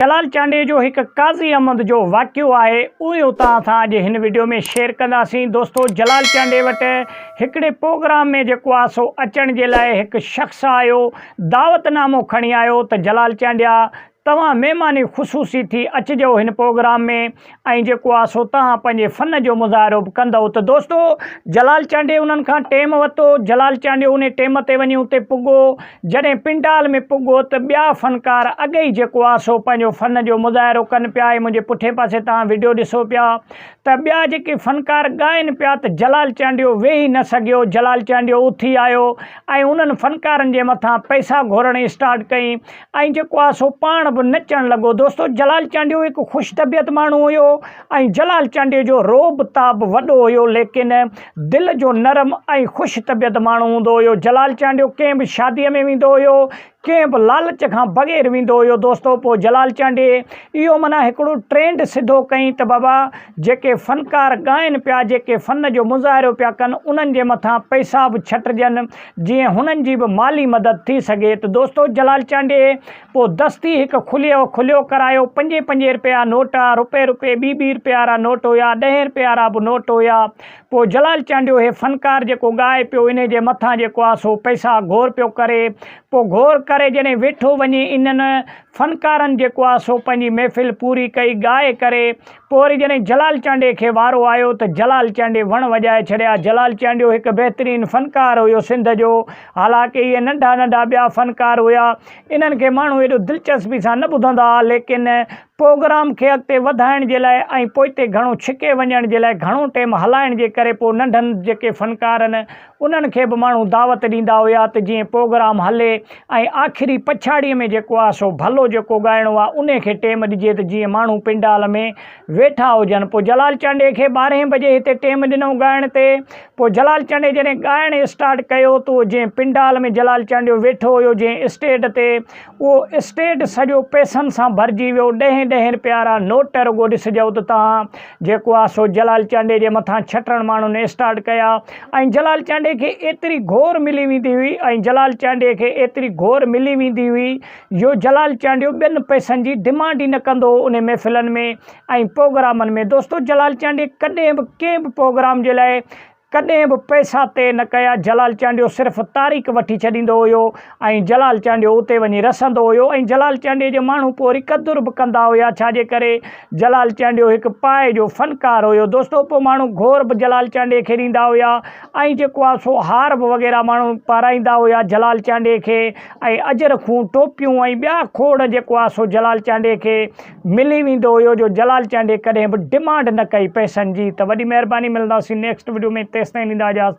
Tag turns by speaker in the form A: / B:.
A: جلال چانڊيي جو هڪ قاضي احمد جو واقعو آهي اهي اتان اسان اڄ هن وڊيو ۾ شيئر ڪنداسين دوستو جلال چانڊيي وٽ هڪڙي پروگرام ۾ جيڪو آهي سو اچڻ جي لاء هڪ شخص آيو دعوت نامو کڻي آيو ته جلال چانڊيا توهان مهماني خصوصي ٿي اچجو هن پروگرام ۾ ۽ جيڪو آ سو توهان پنهنجي فن جو مظاهرو به ڪندئو ته دوستو جلال چانڊيو انهن کان ٽيم ورتو جلال چانڊيو ان ٽيم تي وڃي اتي پڳو جڏهن پنڊال ۾ پڳو ته ٻيا فنڪار اڳ ئي جيڪو آ سو پنهنجو فن جو مظاهرو ڪن پيا هي منهنجي پٺئين پاسي توهان وڊيو ڏسو پيا ته ٻيا جيڪي فنڪار ڳائن پيا ته جلال چانڊيو ويهي نه سگهيو جلال چانڊيو اٿي آيو ۽ انهن فنڪارن جي مٿان پئسا گهورڻ اسٽارٽ ڪئي ۽ جيڪو آهي سو پاڻ به نچڻ لڳو دوستو جلال چانڊيو هڪ خوش طبيعت ماڻهو هيو ۽ جلال چانڊيو جو روب تاب وڏو هيو ليڪن دل جو نرم ۽ خوش طبيعت ماڻهو هوندو هيو جلال چانڊيو ڪنهن به شادي ۾ ويندو هيو ڪنهن به لالچ کان بغير ويندو هيو دوستو پوء جلال چانڊي اهو معنيٰ هڪڙو ٽرينڊ سڌو ڪئين ته بابا جيڪي فنڪار ڳائن پيا جيڪي فن جو مظاهرو پيا ڪن انهن جي مٿان پئسا به ڇٽجن جيئن هنن جي به مالي مدد ٿي سگهي ته دوستو جلال چانڊيي پوء دستي هڪ کليو کليو ڪرايو پنجين پنجين رپيا نوٽ رپي رپي ٻي ٻي رپيا را نوٽ هيا ڏهين رپيا را به نوٽ هيا پوء جلال چانڊيو هي فنڪار جيڪو ڳائي پيو انهي جي مٿان جيڪو آ سو پئسا گهور پيو ڪري پوء گهور ڪري جڏهن ويٺو وڃي انهن فنڪارن جيڪو آ سو پنهنجي محفل پوري ڪئي ڳائي ڪري پوء وري جڏهن جلال چانڊيي کي وارو آيو ته جلال چانڊيي وڻ وڄائي ڇڏيا. جلال چانڊيو هڪ بهترين فنڪار هيو سنڌ جو. حالانڪ اهي ننڍا ننڍا ٻيا فنڪار هيا. انهن کي ماڻهو ايڏو دلچسپي سان نه ٻڌندا ها ليڪن پروگرام کي اڳتي وڌائڻ جي لاء ۽ پوئتي گهڻو ڇڪي وڃڻ جي لاء گهڻو ٽيم هلائڻ جي ڪري پوء ننڍن جيڪي فنڪارن انهن کي به ماڻهو دعوت ڏيندا هيا ته جيئن پوگرام هلي ۽ آخري پڇاڙيء ۾ جيڪو آهي سو ڀلو جيڪو ڳائڻو آهي انهي کي ٽيم ڏجي ته جيئن ماڻهو پنڊال ۾ ويٺا هجن پوء جلال چانڊيي کي ٻارهين بجي هتي ٽيم ڏنئون ڳائڻ تي پوء جلال چانڊيي جڏهن ڳائڻ اسٽارٽ ڪيو تو جيئن پنڊال ۾ جلال چانڊيو ويٺو هيو جيئن اسٽيڊ تي اهو اسٽيڊ سڄو پئسن سان ڀرجي ويو. ڏهين ڏهين رپئي وارا نوٽ رڳو ڏسجئو ته تان جيڪو آهي سو جلال چانڊيي جي مٿان ڇٽڻ ماڻهن اسٽارٽ ڪيا ۽ جلال چانڊيي کي ايتري گهور ملي ويندي هئي ۽ جلال چانڊيي کي ايتري گهور ملي ويندي هئي جو جلال چانڊيو ٻين پئسن جي ڊمانڊ ئي نه ڪندو هو انهي محفلن ۾ ۽ پوگرامن ۾ دوستو جلال چانڊيي ڪڏهن به ڪنهن به پوگرام جي لاء ڪڏهن به پئسا طئي نه ڪيا، جلال چانڊيو صرف تاريخ وٺي ڇڏيندو هيو ۽ جلال چانڊيو اتي وڃي رسندو هيو ۽ جلال چانڊيي جا ماڻهو پوء وري قدر به ڪندا هيا ڇا جي ڪري جلال چانڊيو هڪ پائي جو فنڪار هيو دوستو پوء ماڻهو گهور به جلال چانڊيي کي ڏيندا هيا ۽ جيڪو آ سو هار به وغيره ماڻهو پارائيندا هيا جلال چانڊيي کي ۽ اجرکون، ٽوپيون ۽ ٻيا کوڙ جيڪو آ سو جلال چانڊيي کي. ملي ويندو هيو جو جلال چانڊيي ڪڏهن به ڊمانڊ نه ڪئي پئسن جي ته وڏي مهرباني ملنداسين نيڪسٽ وڊيو ۾ تيستائين ڏيندا اجازت.